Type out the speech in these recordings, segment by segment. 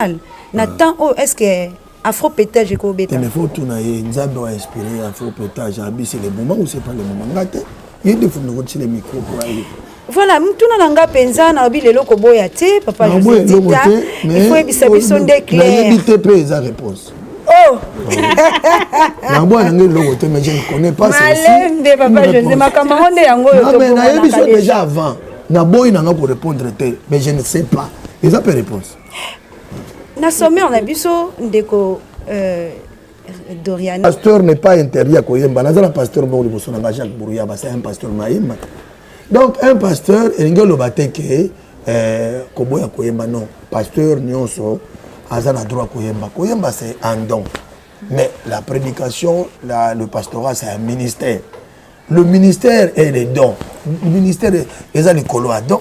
normal na ah. temps oyo est ce que afro pétage ekobeta mais faut tuna ye nzambe wa inspiré afro pétage abi c'est le moment ou c'est pas le moment nga te ye nde fundi kotile micro po aye voilà motuna na nga mpenza nalobi lelo koboya te papa josedita ifo yebisa biso nde clairnayebi te mpe eza réponse oh. naboya na ngai eloko te mais je ne connais pas malembe papa josé makambo yango nde yango oyo nayebi so déjà avant naboyi na nga korépondre te mais je ne sais pas eza mpe réponse na sommaire na biso ndeko euh, dorian pasteur n'est pas interdit ya koyemba naza na pasteur moko liboso na nga jacques brouya basa un pasteur mayemba donc un pasteur elingi oloba te ke euh, koboya koyemba non pasteur nyonso aza na droit koyemba koyemba c'est un don mais la prédication la, le pastorat c'est un ministère le ministère est le don le ministère eza likolo ya don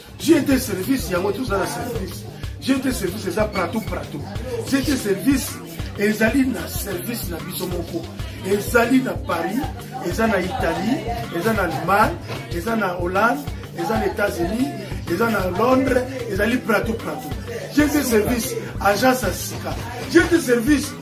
GT service yango toza na service GT service eza pratou pratou GT service ezali na service na biso moko ezali na paris eza na italie eza na allemagne eza na hollande eza na états-unis eza na londres ezali pratou pratou GT service agence ya sika GT service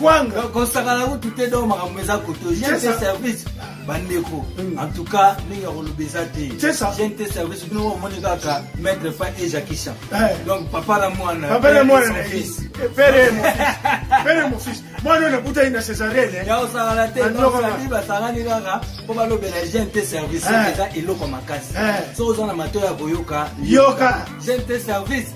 kwanga kosakana kutu te donc makambo eza koto jente service bandeko mm. en tout cas ndenge ya koloba eza te jente service bino omoni kaka maître pa ejakisha eh. donc papa na mwana pere mofis mwana oyo nakutani na cesarene eh. ya osakana te babi basangani kaka mpo balobela jente service eh. eza eloko makasi so oza na matoi ya koyoka yoka jente service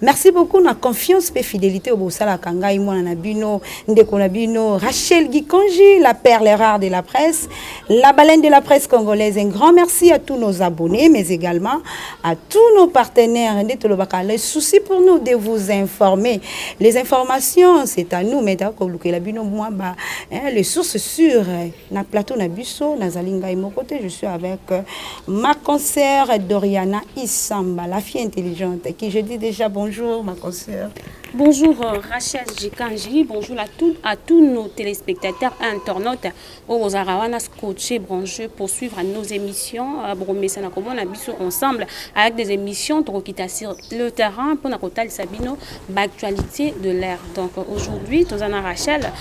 Merci beaucoup na confiance pe fidélité obosala kangai mwana na bino ndeko na bino Rachel Gikonji la perle rare de la presse la baleine de la presse congolaise un grand merci à tous nos abonnés mais également à tous nos partenaires nde tolobaka le souci pour nous de vous informer les informations c'est à nous mais ta ko lukela bino mwa ba hein, les sources sûres na plateau na biso nazali ngai moko te je suis avec euh, ma concert doriana isamba la fille intelligente qui je dis déjà bonjour ma concert Bonjour euh, Rachel Jikanji, bonjour à, tout, à tous nos téléspectateurs et internautes au Rosarawana scotché branché pour suivre nos émissions. Euh, Bromessa na komona biso ensemble avec des émissions Drokita sur le terrain pour Nakotal Sabino, l'actualité de l'air. Donc aujourd'hui, Tozana Rachel,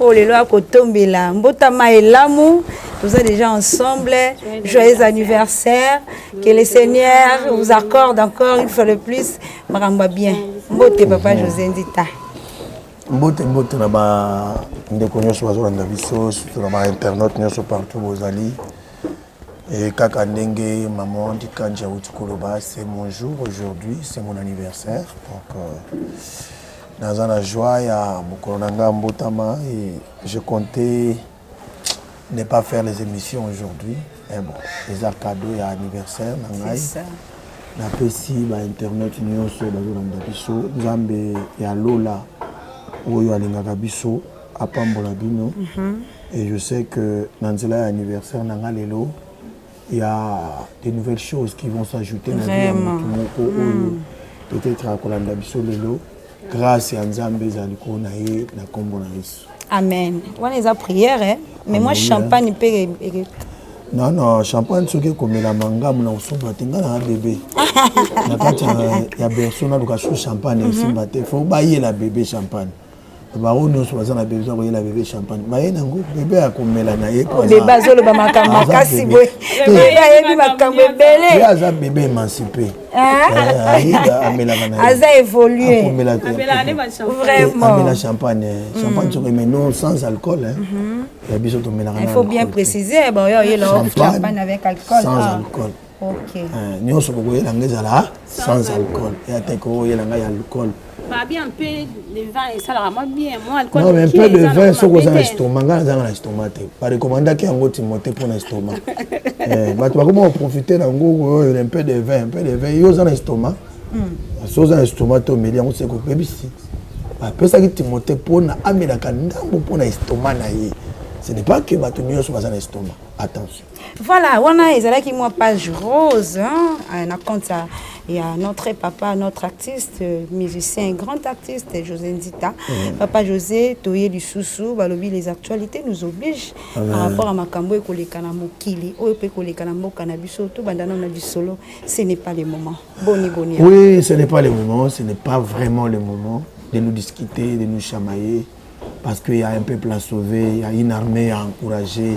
oyo lelo akotombela mbotama elamu toza déjà ensemble joyeux anniversaire que le seigneur vous accorde encore une fois de plus makambo ya bien mbote papa josé ndita mbote mbote na bandeko nyonso bazolanda biso surtout na bainternet nyonso partout bozali e kaka ndenge maman dikanje auti koloba c'est mon jour aujourd'hui c'est mon anniversaire donc euh, Naza na joie ya mokolo na nga mbotama et je comptais ne pas faire les émissions aujourd'hui. Mais eh bon, les cadeaux et anniversaire na ngai. napesi bainternet nyonso bazolanda biso nzambe ya lola oyo alingaka biso apambola bino mm -hmm. et je sais que na nzela ya anniversaire na nga lelo ya des nouvelles choses qui vont s'ajouter na vie ya motu moko oyo hmm. peut-être akolanda biso lelo grâce ya nzambe eza likolo na ye na nkombo na yesu amen wana eza prière eh? mais moi champagne mpe non non champagne soki ekomelama ngambo na kosomba te ngai naa bebe na kati ya berso naluka su champagne esimba mhm. te fo bayela bebe champagne bango nyonso baza na besoin koyela bebe champagne baye nango bebe akomela na ye bebe azoloba makambo makasi boye bebe ayebi makambo ebele ye aza bebe emancipe aza évolueamela champagne mm. champagne soki mais non sans alcool mhm. ya biso tomelaka il faut bien préciser boyo oyela champagne avec alcool sans ah. alcool Okay. Euh, nyonso bokoyela nga ezala sans alcool ya te koyela nga ya alcool non mais mpe de vin soki oza na estomac ngai nazanga na estomac te barekomandaki yango timote mpo na estomac eh, bato bakoma koprofite na yango oyo mpe de vin mpe de vin yo oza na estomac hmm. so oza na estomac te omeli yango seko obebisi bapesaki timote mpo na amelaka ndambo mpo na estomac na ye ce n'est pas que bato nyonso baza na estomac attention Voilà, wana ezalaki mwa page rose hein, euh, na compte ya, ya notre papa, notre artiste, euh, musicien, grand artiste José Nzita. Mm. Papa José, toye lisusu balobi les actualités nous obligent ah, par rapport à makambo ekoleka na mokili, oyo pe koleka na mboka na biso, tout bandana na bisolo, ce n'est pas le moment. Boni boni. Oui, ce n'est pas le moment, ce n'est pas vraiment le moment de nous discuter, de nous chamailler parce qu'il y a un peuple à sauver, il y a une armée à encourager.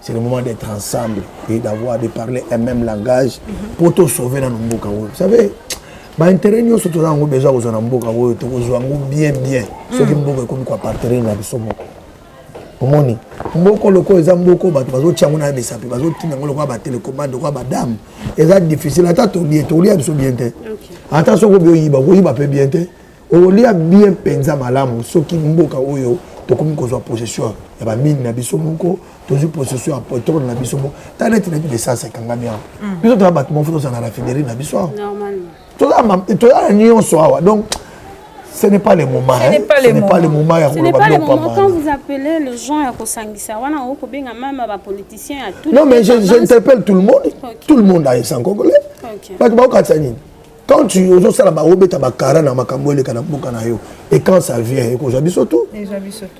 c'est le moment d'être ensemble et d'avoir de parler un même langage mpo tosauve nano mboka oyo vous savez baintérêt nyonso toza yango besoin kozwa na mboka oyo tokozwa yango bien bien soki mboka ekomi koapartenir na biso moko omoni mboka lokola eza mboka bato bazotya yango na bisapi bazotinda yango lokola batelecomande lokola badame eza difficile ata tolie tolia biso bien te ata soko bioyiba okoyiba mpe bien te okolia bien mpenza malamu soki mboka oyo tokomi kozwa possession ya bamine na biso moko tozwi possession ya petrole na biso moko ta neti neti baessence ekangami awa mm. biso toza bato moko tozala na raffinerie na biso awa toza na nyonso awa donc ce n'est pas le moment ce n'est pas, hein? pas le moment ya koloba biloko pamba quand vous appelez les gens ya kosangisa wana okobenga mama ba politiciens ya tout non mais j'interpelle tout le monde okay. tout le monde ayesan congolais okay. bato bakokatisa nini quand tu ozo sala ba obeta ba kara na makambo eleka na mboka na yo et quand ça vient et ko jabiso tout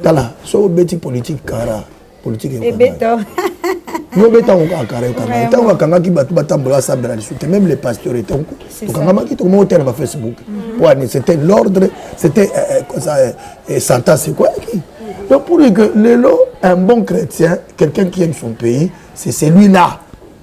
tala so obeti politique kara politique et beta yo beta ko kara yo kanga tango kanga ki batu batambola sambela lisu te même les pasteurs et tango to kanga maki to mo tela ba facebook mhm. ouais c'était l'ordre c'était euh, euh, ça euh, santa c'est quoi qui donc pour que lelo un bon chrétien quelqu'un qui aime son pays c'est celui là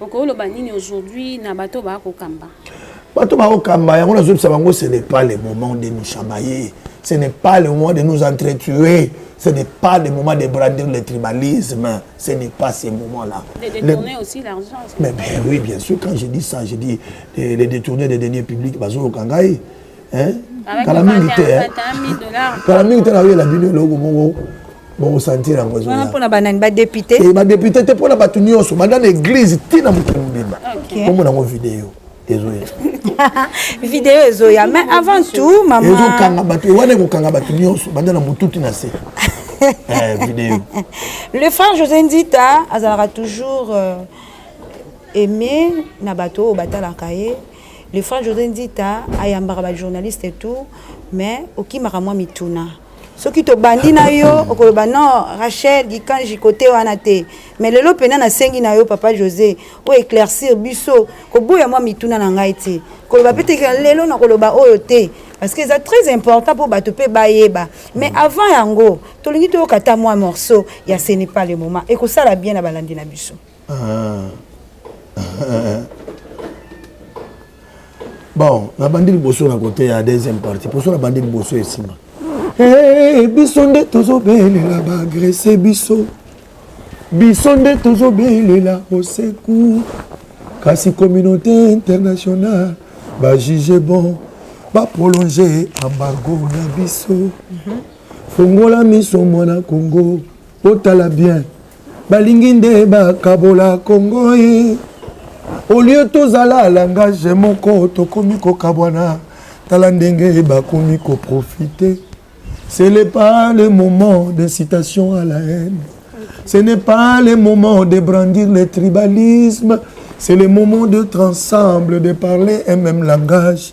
okoloba nini aujourd'hui na bato baya kokamba bato baya kokamba yango nazobisa bango ce n'est pas le moment de nous chamailler ce n'est pas le moment de nous entretuer Ce n'est pas le moment de brandir le tribalisme. Ce n'est pas ce moment-là. De détourner le... aussi l'argent. Mais, mais, oui, bien sûr, quand je dis ça, je dis les, les détourner des deniers publics, Bazo Kangai. Hein? Avec Kala mingi te. Hein? Kala mingi te na yo la bino eloko moko bokosantir yango wana mpona banani badepute eh, badepute te mpona bato nyonso banda na eglize ti na mokili mobimba omona yango video ezoya video ezoya mais avant tout mama ezokanga bato eh, wana ekokanga bato nyonso banda na motuti na se eh, video le frère josé nzita azalaka toujours euh, aimé na bato oyo batalaka ye le frère josé nzita ayambaka bajournaliste et tout mais okimaka mwa mituna soki tobandi na yo okoloba non rachel gikanji kote wana te me lelo mpena nasengi na yo papa josé oyo éclaircir biso koboya mwa mituna na ngai te koloba mpe teke lelo nakoloba oyo te parce que eza très important mpo bato mpe bayeba mais mm. avant yango tolingi toyoka ata mwa morceau ya ce n'est pas le moment ekosala bien na balandi na biso bon nabandi liboso na kote ya deuxième partie poso nabandi liboso esima hey, eh, biso nde tozobelela baagrese biso biso nde tozobelela oseku kasi communauté internationale bajuge bon baprolonge embargo na biso fongola miso mwana congo otala bien balingi nde bakabola kongo ye olio tozala alangage moko tokomi kokabwana tala ndenge bakomi koprofite ce n'est pas le moment d'incitation à la haine ce n'est pas le moment de brandir le tribalisme c'est le moment d'être ensemble de parler un même langage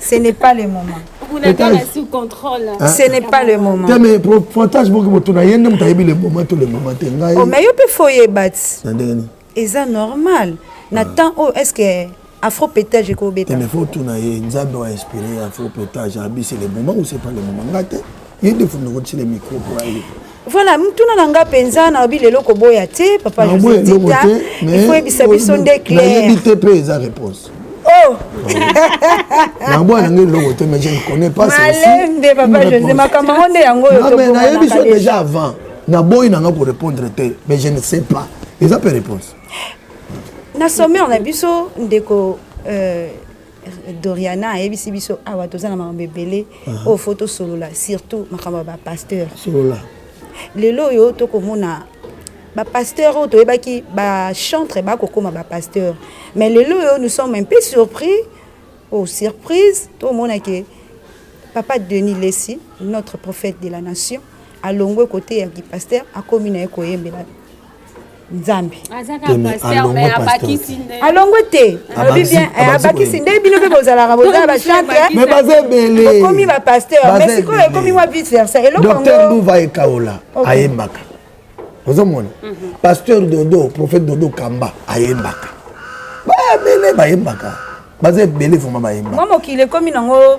Ce n'est pas le moment. Ce n'est pas le moment. Te mais pointage boki moto na ye nde moto ayebi le moment to le moment te ngai. Oh mais yo pe faut yeba. Na ndenge nini? Eza normal. Na temps oyo est-ce que afro pétage ekobeta? Mais faut tuna ye Nzambe a inspiré afro pétage abisi le moment ou c'est pas le moment ngate. Ye nde fundo kotisi le micro pour aller. Voilà, mutuna na nga penza na obi lelo koboya te papa José Tita. Il faut ebisa biso nde clair. Na yebi te pe eza réponse. Oh. na boya na ngai loko te mais je ne connais pas ça. Malembe papa José makambo nde yango yo to. Na yebi so déjà avant. Na boyi na nga ko répondre te mais je ne sais pas. Eza pe réponse. Na sommaire na biso ndeko euh doriana ayebisi biso awa toza na makambo ebele oyo fo tosolola surtout makambo ya bapasteur lelo oyo tokomona bapasteur oyo toyebaki bachantre bakokoma bapasteur mais lelo oyo nous sommes un peu surpris o oh, surprise tomona ke papa denis lesi notre prophète de la nation alongwe kote ya kipasteur akomi na ye koyembela nzambe alongwe te alobi bien abakisi nde bino mpe bozalaka bozala bachanteokomi eh, bapasteur mais sikoyo ekomi mwa vice versa elokdr nduva ekaola ayembaka ozomona mhm. pasteur dodo prophète dodo kamba ayembaka bayebele bayembaka baza ebele vraimen bayembaka mwa mokili ekomi nango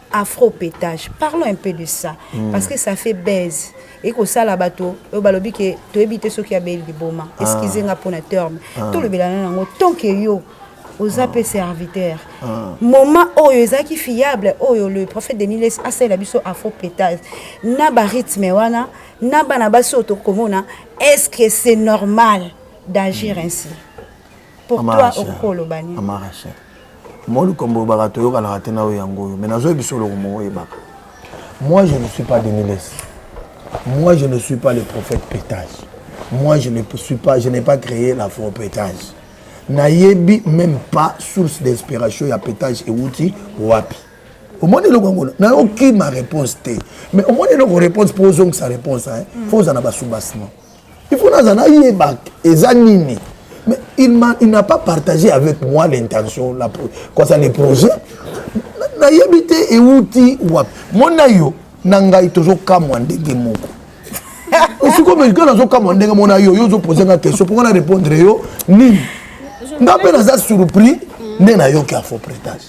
afro petage parlons un peu de ça mm. parce que ça fait baise ekosala bato oyo balobi ke toyebi te soki abeli liboma ah. excuse nga mpona terme ah. tolobelana nango tant que yo oza mpe ah. serviteur ah. moment oyo ezalaki fiable oyo le prophète deniles asalela biso afro petage na barythme wana na bana basi oyo tokomona est ce que c'est normal d'agir mm. ainsi pour toi okoki koloba nini mama rachel moi likambo oyebaka toyokanaka te na oyo yango oyo mais nazoyebi biso oloko moko oyebaka moi je ne suis pas deniles moi je ne suis pas le prophète pétage moi je ne suis pas je n'ai pas créé la faux pétage nayebi même pas source d'inspiration ya pétage euti wapi omoni eloko yango na okima réponse te mais omoni eloko réponse mpo ozongisa réponse fo oza na basubasement il faut naza nayeba eza nini mais il, il n'a pas partagé avec moi l'intention kosa le projet nayebi te ewuti wapi mona yo na ngai tozokamwa ndenge moko sikoyo kaka nazokamwa ndenge mona yo yo ozopose nga question mpo nga na répondre yo nini nga mpe naza surpris nde nayoki afo prétage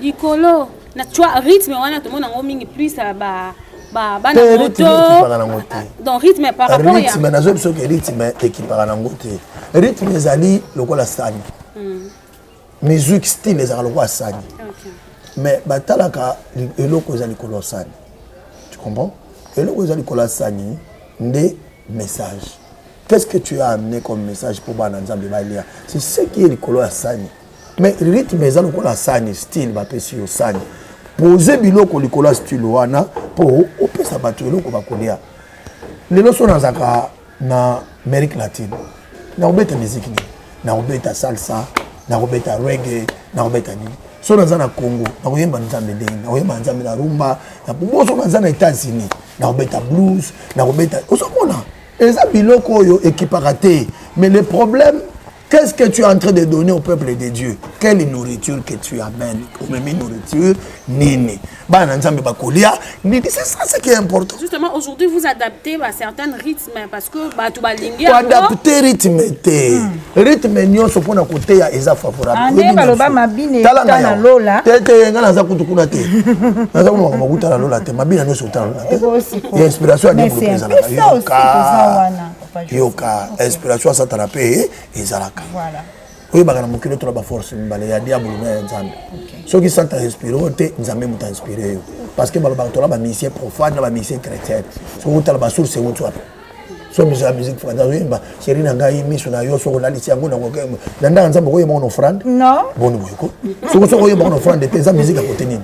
likolo na twa rythme wana tomona yango mingi plus ya ba ba bana Pe rythme moto ekipaka nango te donc rythme par rapport ya rythme nazo biso ke rythme ekipaka nango te rythme ezali lokola sani musique style ezalaka lokola sani Okay. mais batalaka li- eloko eza likolo ya sani tu comprends eloko eza likolo ya sani nde message qu'est ce que tu as amené comme message mpo bana nzambe balia c'est ce qui est likolo ya sani mais rythme eza lokola sani style bapesi yo sani pose biloko likolo ya style wana mpo opesa bato eloko bakolia lelo so nazalaka na amérique latine nakobeta miziki nini nakobeta salsa nakobeta rege nakobeta nini so naza na congo nakoyemba nzambe ndenge nakoyemba nzambe na rumba boso naza na états-unis nakobeta blues nakobeta ozomona eza biloko oyo ekipaka te mais le problème Qu'est-ce que tu es en train de donner au peuple de Dieu Quelle nourriture que tu amènes Omemi nourriture nini Bana nzambe bakolia nini C'est ça ce qui est important. Justement aujourd'hui vous adaptez à certains rythmes parce que bato balingi yango. Adapter rythme te. Hmm. Rythme nyonso mpo na koteya eza favorable. Ande ah, baloba mabine euta na lola. Te te nga naza kutu kuna te. Naza kuna makambo kuta na lola te. Mabina nyonso euta na lola te. Ya inspiration ya Dieu ezalaka. Yoka. yoka inspiration ya satana mpe ezalaka oyebaka na mokili otola baforce mibale ya diabolo na ya nzambe soki santa inspire oyo te nzambe moto inspire yo parce que balobaka tola bamisie profane na bamisie chrétienne soki otala basource euti wapi so miso ya musique française oyemba sheri na ngai miso na yo soki olalisi yango na ndanga nzambe okoyemba ngo na offrande boni boyeko soki soki oyemba ngo na offrande te eza musique ya kote nini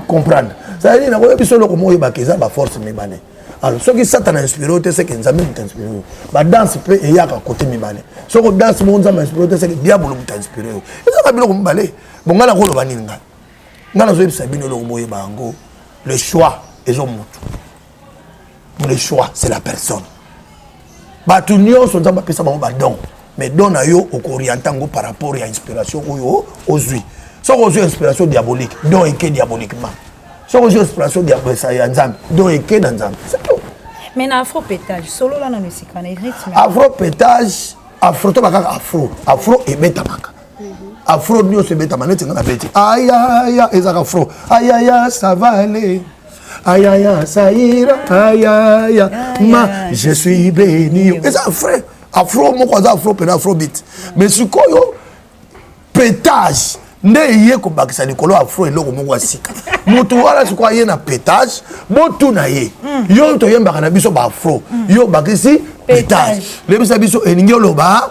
comprendre cetadire nakoyebi so eloko mo oyebaka eza baforce mibale alors soki satana inspiré yo te seke nzambe moto inspiré yo badanse mpe eyaka kote mibale soki odanse moko nzambe inspiré yo te seke diabolo moto inspiré yo ezaka biloko mibale bo ngai nakoloba nini ngai ngai nazoyebisa bino eloko boyeba yango le choix ezo motu le choix c'est la personne bato nyonso nzambe apesa bango badon mais don na yo okoriente yango par rapport ya inspiration oyo ozwi soki ozwi inspiration diabolique don eke diaboliquement soki ozwi inspiration ya nzambe don eke na nzambe mais na afro petage solola nano esika na rythme afro petage afro to bakaka afro afro ebetamaka afro nyonso ebetama neti nga na beti ayaya ezaka fro ayaya savale ayaya saira ayaya ma je suis beni eza frais afro moko aza afro mpena afrobit mais sikoyo petage nde eye kobakisa likolo afro eloko moko ya sika motu wana sikoyo aye na petage botuna ye hmm. yo toyembaka na biso baafro hmm. yo obakisi petage lebisa biso elingi oloba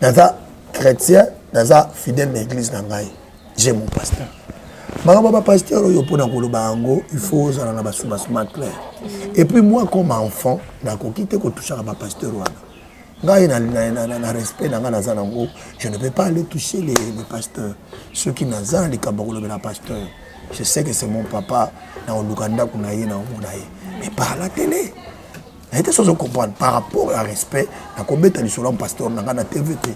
naza chrétien naza fidèle na église na ngai j'ai mon pasteur makambo ya bapasteur oyo mpona koloba yango il faut ozala na basumasuma clair et puis moi comme enfant nakoki te kotushaka bapasteur wana ngai na, na, na, na, na respect na ngai naza nango je ne peux pas aller toucher les, les pasteurs soki naza na likambo ya kolobela pasteur je sais que c'est mon papa na oluka ndako na ye na omona ye mais par la télé naye te sozo comprendre par rapport ya respect nakobeta lisolo ya pasteur na ngai na tv te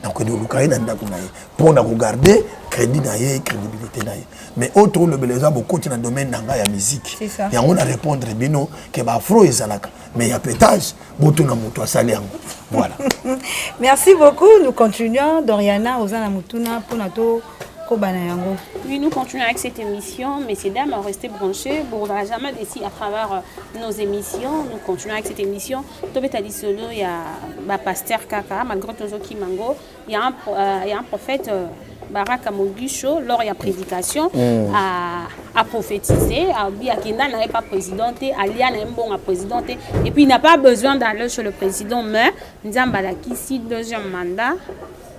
nakokende koluka ye na ndako na ye mpo na kogarde crédit na ye crédibilité na ye mais oyo tokolobela eza bokoti na domaine na ngai ya miziki yango na répondre bino ke baafro ezalaka mais ya petage botuna moto asali yango voilà merci beaucoup nous continuons doriana oza na motuna mpona to koba na yango oui nous continuons avec cette émission messieurs dames restez branchés bokozala jamais déçu à travers euh, nos émissions nous continuons avec cette émission tobeta lisolo ya bapasteur kaka malgré tozokima ngo ya un, euh, ya un prophète euh, baraka mogisho lors ya prédication mm. à, à prophétiser abi akenda na ye pas président te alia na ye mbongo ya président te et puis il n'a pas besoin d'aller chez le président mais nzambe alakisi deuxième mandat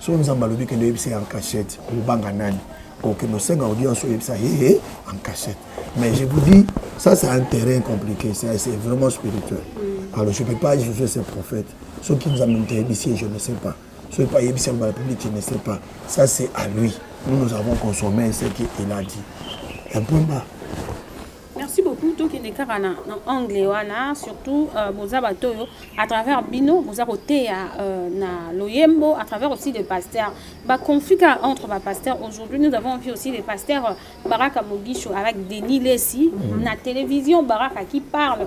so nzambe alobi kende oyebisa ya cachette obanga nani okende osenga audience oyebisa hee en cachette mais je vous dis ça c'est un terrain compliqué c'est vraiment spirituel alors je peux pas juger ces prophètes soki nzambe moto ayebisi ye je ne sais pas soki mpe ayebisi yango na public je ne sais pas ça c'est à lui nous nous avons consommé ce qu'il a dit un point bas merci beaucoup tokende kaka na, na anglais wana surtout euh, boza bato oyo à travers bino boza koteya euh, na loyembo à travers aussi des pasteurs baconflit kaka entre bapasteurs aujourd'hui nous avons vu aussi les pasteurs euh, baraka mogisho avec denis lesi mm -hmm. na télévision baraka qui parle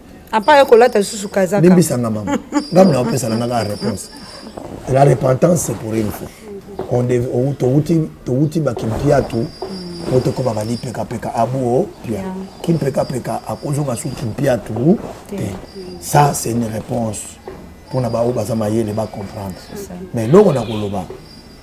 apa ye kolata lisusu kazaka limbisanga mama ngambo na opesa na nga kaka réponse la repentance c'est pour une fois towuti bakimpiatu po tokobaka lipekapeka abuo pia kimpekapeka akozonga su kimpiatu te ça c'est une réponse mpona baoyo baza mayele bacomprendre mais eloko na koloba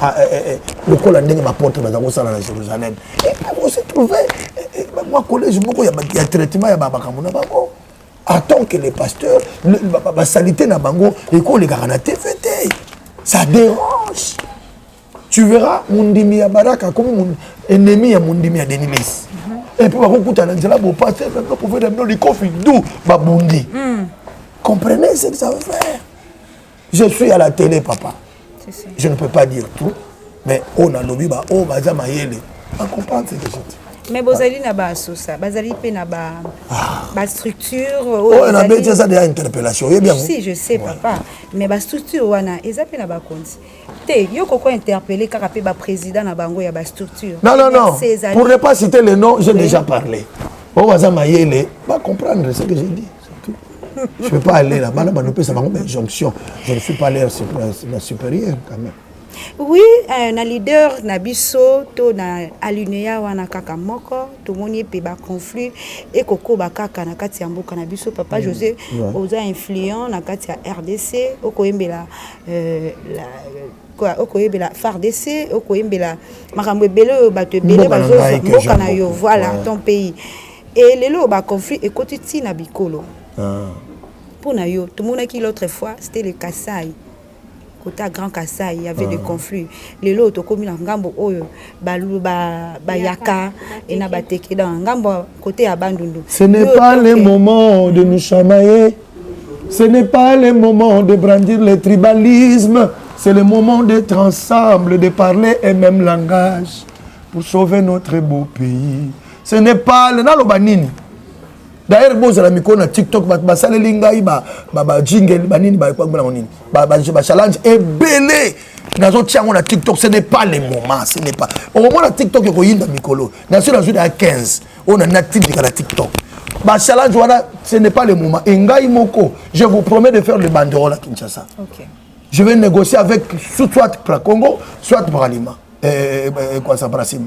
ah, eh, eh, eh, lokola ndenge baporte baza kosala na jérusalem ose trouve mwa collège moko ya traitement ya bamakambo na bango en tant que les pasteurs basalite na bango ekolekaka na tv te ça dérange tu verras mondimi ya baraka akomi ennemi ya mondimi ya denilis mhm. epuis bakokutana nzela bopate meme profete mino likofi du babundi hmm. comprenez ce que ça veut faire je suis à la télé papa je ne peux pas dire tout mais oyo oh, nalobi ba oyo oh, baza mayele bacomprendre ce que je dis mais bozali na basosa bazali mpe na bastructure ah. oh, oyo nabeti eza deya interpellation oyebi yango si je sais papa mais bastructure wana eza mpe na bakonzi te yo koko interpelle kaka mpe baprésident na bango ya bastructure non non non pour ne pas citer le nom j'ai déjà parlé oyo baza mayele bacomprendre ce que j'ai dit Je ne peux pas aller là. Bana bana pesa bango mais jonction. Je ne suis pas leur la supérieur quand même. Oui, euh, na leader na biso to na alinéa wana kaka moko tomoni pe ba conflit et koko ba kaka na kati ya mboka na biso papa mm. José ouais. oza influent na kati ya RDC okoyembela euh, la quoi okoyebela FARDC okoyembela makambo ebele oyo bato ebele bazo mboka na yo voilà ouais. ton pays Et lelo oyo ba conflit ekoti ti na bikolo. Ah. Mpo na yo, tomonaki l'autre fois, c'était le Kasaï. Côté à Grand Kasaï, il y avait ah. des conflits. Lelo oyo tokomi na ngambo oyo balu ba bayaka et na bateke dans ngambo côté ya Bandundu. Ce n'est pas le moment de nous chamailler. Ce n'est pas le moment de brandir le tribalisme. C'est le moment d'être ensemble, de parler un même langage pour sauver notre beau pays. ce n'est pas le naloba nini d'ailleurs bozala mikolo na tiktok bato basaleli ngai bajingel banini babango nini bachallenge ebele nazotia yango na tiktok ce n'est pas le moment ce n'est pas okomona tiktok ekoyinda mikolo nasi nazwi na ya 15 oyo na natindika na tiktok bachallenge wana ce n'est pas le moment e ngai moko je vous promets de faire le banderole à kinshasa okay. je vais négocier avec soit pracongo soit bralima eh, eh, eh, eh, quoi ça brasima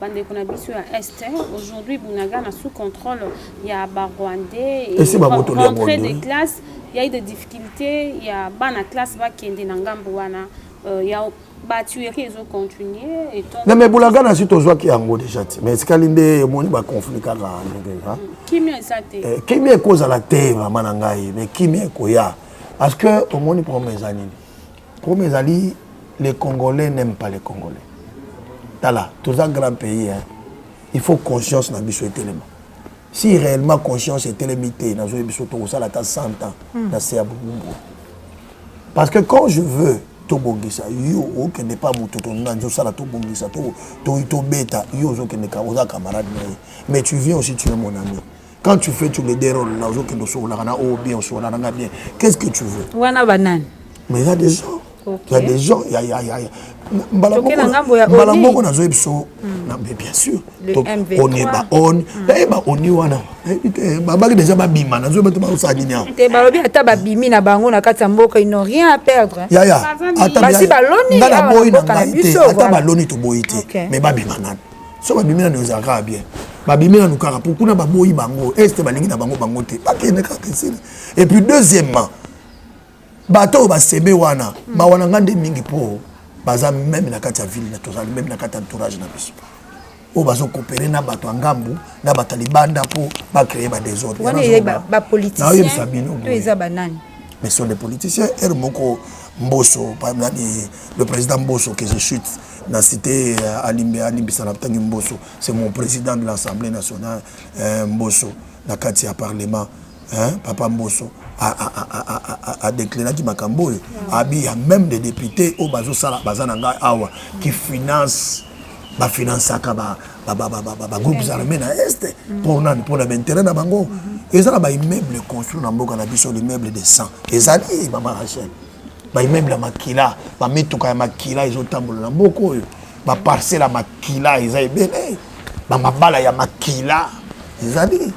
bandeko na biso ya est aujourd'hui bunagana sous contrôle ya barwandais rentrée de classe ya eu de difficulté ya bana classe bakende na ngambo wana euh, ya batuerie ezocontinue na me bunagana si tozwaki yango déjà ti mais esikali nde omoni baconflit kaka ndenge hmm, kimia eza te eh, kimia ekozala te mama na ngai mais kimia ekoya parce que omoni problème eza nini Problème ezali les Congolais n'aiment pas les Congolais. Tala, tous un grand pays, hein. il faut conscience na biso etelema. Si réellement conscience etelemi te, na zo biso to sala ta 100 ans hmm. na se abumbu. Parce que quand je veux tobongisa yo okende pa moto tolina nzo osala tobongisa tobeta yo ozokende oza camarade na ye mais tu viens aussi tu es mon ami quand tu fais tu me déroule na ozokende osokolaka na oyo bien osokola na nga bien qu'est ce que tu veux wana banani mais eza des gens ya des gens ya ya ya ya mbala moko nazoyi biso mais bien sûr on est ba on naye ba oni wana babaki déjà babima nazoyi bato bakosala nini awa te balobi ata babimi na bango na kati ya mboka ils n'ont rien à perdre yaya basi baloni nga naboyi na ngai te ata baloni toboyi te mais babima nani so babimi nanu ezala kaka bien babimi nanu kaka po kuna baboyi bango este balingi na bango bango te bakende kaka esili et puis deuxièmement bato oyo basebe wana hmm. mawa na nga nde mingi po baza meme na kati ya ville na tozali meme na kati ya entourage na biso oyo bazokopere na bato ya ngambu na bato ya libanda mpo bacreye badesordrenaoyebisa bino mais sont des politiciens ere moko mboso nani le président mboso que je chute na cité euh, alimbe alimbisa na tangi mboso c'est mon président de l'assemblée nationale euh, mboso na kati ya parlement hein, papa mboso adéclaraki makambo oyo abi ya même des députés oyo bazosala baza na ngai awa qui finance bafinansaka bagroupes armé na este mpo nani mpo na baintérêt na bango eza na baimmeuble construit na mboka na biso l'immeuble de 100 ezali mama rachel ba immeuble ya makila ba mituka ya makila ezotambola na mboka oyo ba parcelle ya makila eza ebele ba mabala ya makila ezali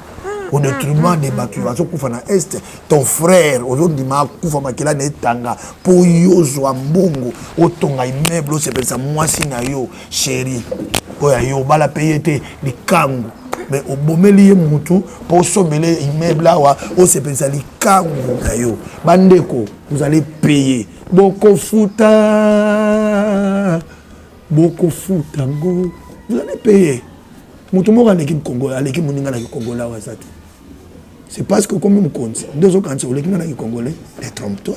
au détriment des bato bazokufa na est ton frère ozondima akufa makila na etanga mpo yo ozwa mbongo otonga immeuble osepelisa mwasi na yo sheri oyo ayo obala mpe ye te likangu me obomeli ye mutu mpo osombela ye immeuble awa osepelisa likangu na yo bandeko vous allez payer bokofuta bokofuta ngo vous allez payer moto moko aleki mkongo aleki moninga na kikongola awa aza te c'est parce que okomi mokonzi nde ozokanisa oleki nga na kikongole te trompe toi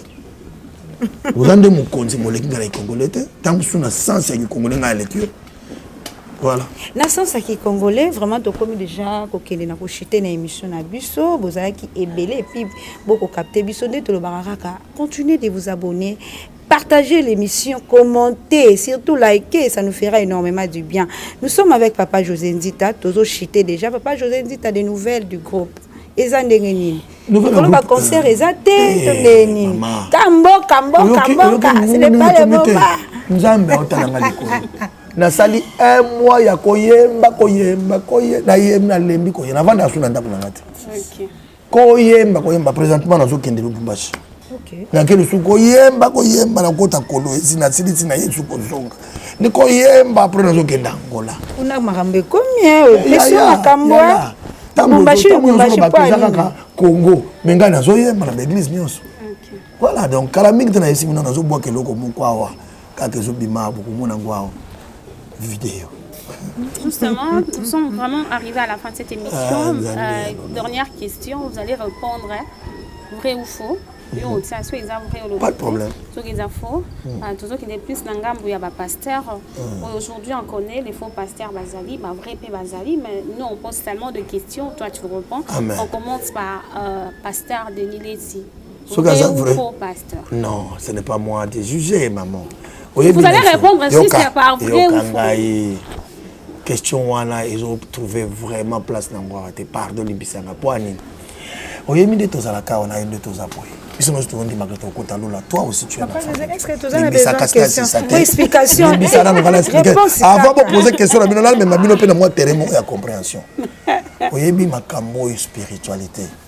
oza nde mokonzi moleki nga na kikongole te ntango mosusu na sens ya kikongole ngai aleki yo voilà na sens ya kikongole vraiment tokomi déjà kokende na kochite na émission na biso bozalaki ebele epuis bokokapte biso nde tolobaka kaka continuer de vous abonner Partagez l'émission, commentez, surtout likez, ça nous fera énormément du bien. Nous sommes avec Papa José Nzita, Tozo Chité déjà. Papa José Nzita, des nouvelles du groupe. eza ndenge nini koloba concert euh, eza te eh, to ndenge nini ka mboka mboka mboka selepale boba nzambe aotalanga likolo nasali un mois ya koyemba koyemba koye nayembi nalembi koye navanda asu na ndako na nga te koyemba koyemba présentement nazokende lubumbashi okay. nake lisusu koyemba koyemba nakota kolo esi nasilisi na ye lisusu kozonga ni koyemba apres nazokende angola kuna makambo ekomi opesi makambo lubumbashi kaka congo me ngai nazoyemba na baeglise nyonso voilà donc kala mingi te na esimi no nazobwaka eloko moko awa kaka ezobima awa bokomona yango awa video Justement, nous sommes vraiment arrivés à la fin de cette émission. Ah, euh, dernière question, vous allez répondre hein, vrai ou faux. yo mhm. otia soki eza vrai olobate soki eza faux mhm. ah, tozokende plus na ngambo ya bapasteur mhm. oyo aujourd'hui on connaît les faux pasteurs bazali bavrai mpe bazali mais nous on pose tellement de questions toi tu réponds on commence par euh, pasteur denis leti soki aza vrai non ce n'est pas moi de juger maman oyebiyoka ngai question wana ezotrouve vraiment place na yango awa te pardon libisanga mpo anini oyebi nde tozalaka awa na yo nde toza boye biso nyonso tokondimaka tokokota lola toi aussi tu aslimbisa nano kala explike avant bopose question na bino nalemema bino mpe na mwa terrain moko ya compréhension oyebi makambo oyo spiritualité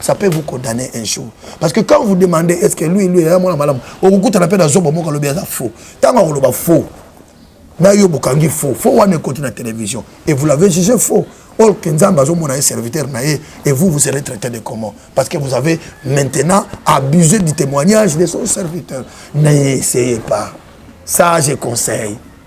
ça peut vous condamner un jour parce que quand vous demandez est ce que lui lui aya mwana malamu okokutana mpe na zobo moko alobi aza faux ntango akoloba faux na yo bokangi faux faux wana ekoti na télévision et vous l'avez jugé faux or que nzambe azomona ye serviteur na ye et vous vous serez traité de comment parce que vous avez maintenant abusé du témoignage de son serviteur n'ayez essayé pas ça je conseille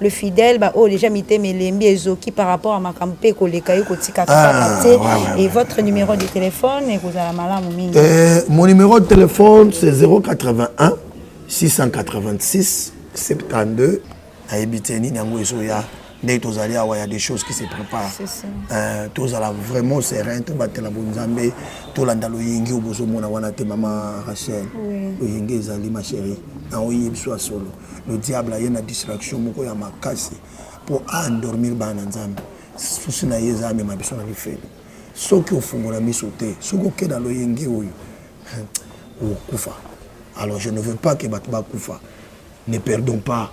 le fidèle ba oyo déjà mitema elembi ezoki par rapport à makambo mpe ekoleka ye kotikaka ah, kaka te et votre numéro de téléphone ekozala malamu mingi euh, mon numéro de téléphone c'est 081 686 72 ayebi te nini yango ezoya ndenge tozali awa ya des choses qui se prépare euh, tozala vraiment serein tobatela bonzambe tolanda loyenge oyo bozomona wana te mama rachel loyenge ezali ma chérie na oyebi biso ya solo le diable aye na distraction moko ya makasi mpo a endormir bana na nzambe susi na ye eza amema biso na lifelo soki ofungola miso te soki okenda loyenge oyo okokufa alors je ne veux pas ke bato bakufa ne perdons pas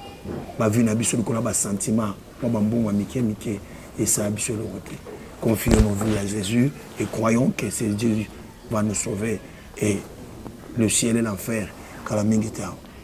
bavie na biso likolo ya basentiment mwa bambongo ya mike mike esala biso eloko te confie nos vies à jésus et croyons que c'est dieu va nous sauver et le ciel et l'enfer kala mingi te awa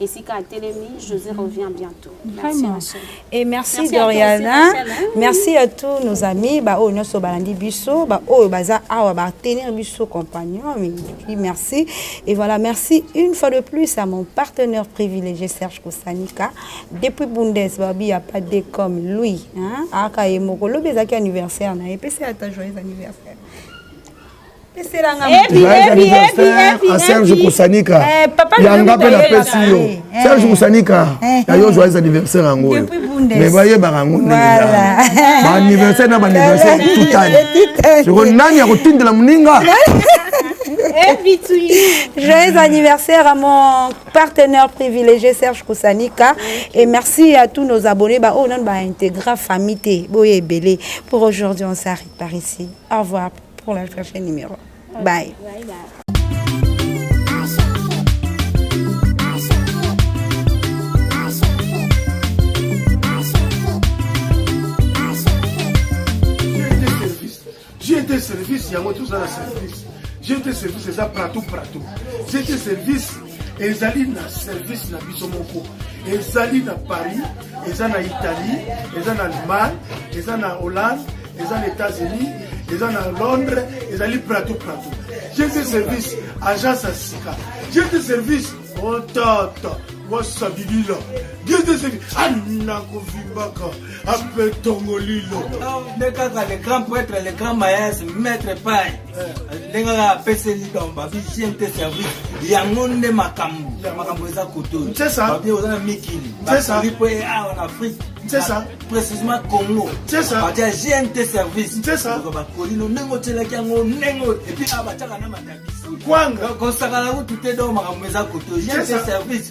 esika atelemi josé revient bientôt merci ma soeur et merci, merci doriana merci à tous nos amis baoyo oh, nyonso balandi biso baoyo oh, baza awa batenir biso compagnon oui merci et voilà merci une fois de plus à mon partenaire privilégié serge kosanika depuis bundes babi ya pas de comme lui hein? aka ye moko lobi ezalaki anniversaire na ye epesi ata joyeux anniversaire a serge kosanika yanga mpe napesi yo serge kosanika ya yo joyeux anniversaire yango oyo mais bayebaka yango ndenge baanniversaire na baanniversaire tutani siko nani akotindela moninga Joyeux anniversaire à mon partenaire privilégié Serge Kosanika et merci à tous nos abonnés. Bah, oh non, bah, intégra famille, boye belé. Pour aujourd'hui, on s'arrête par ici. Au revoir. pour la chercher numéro bye, bye, bye. jete service yango toza na service jete service eza pratou pratou jete service ezali na service na biso moko ezali na paris eza na italie eza na allemagne eza na hollande eza na états-unis eza na londres ezali prato prato jete service agence ya sika jete service otata wasabilila jete service anakovimbaka ape tongolilo nde kaka le grand prêtre le grand mayas maître paye ndenge kaka apeseli donc babi gnt service yango nde makambo makambo eza kotobabi oza na mikili basali mpo awa na afrique précisement congo bati ya gnt service bakolino ndenge otyelaki yango ndenge epi awa batyaka na matabisi kosakana kutu te donc makambo eza koto gnt service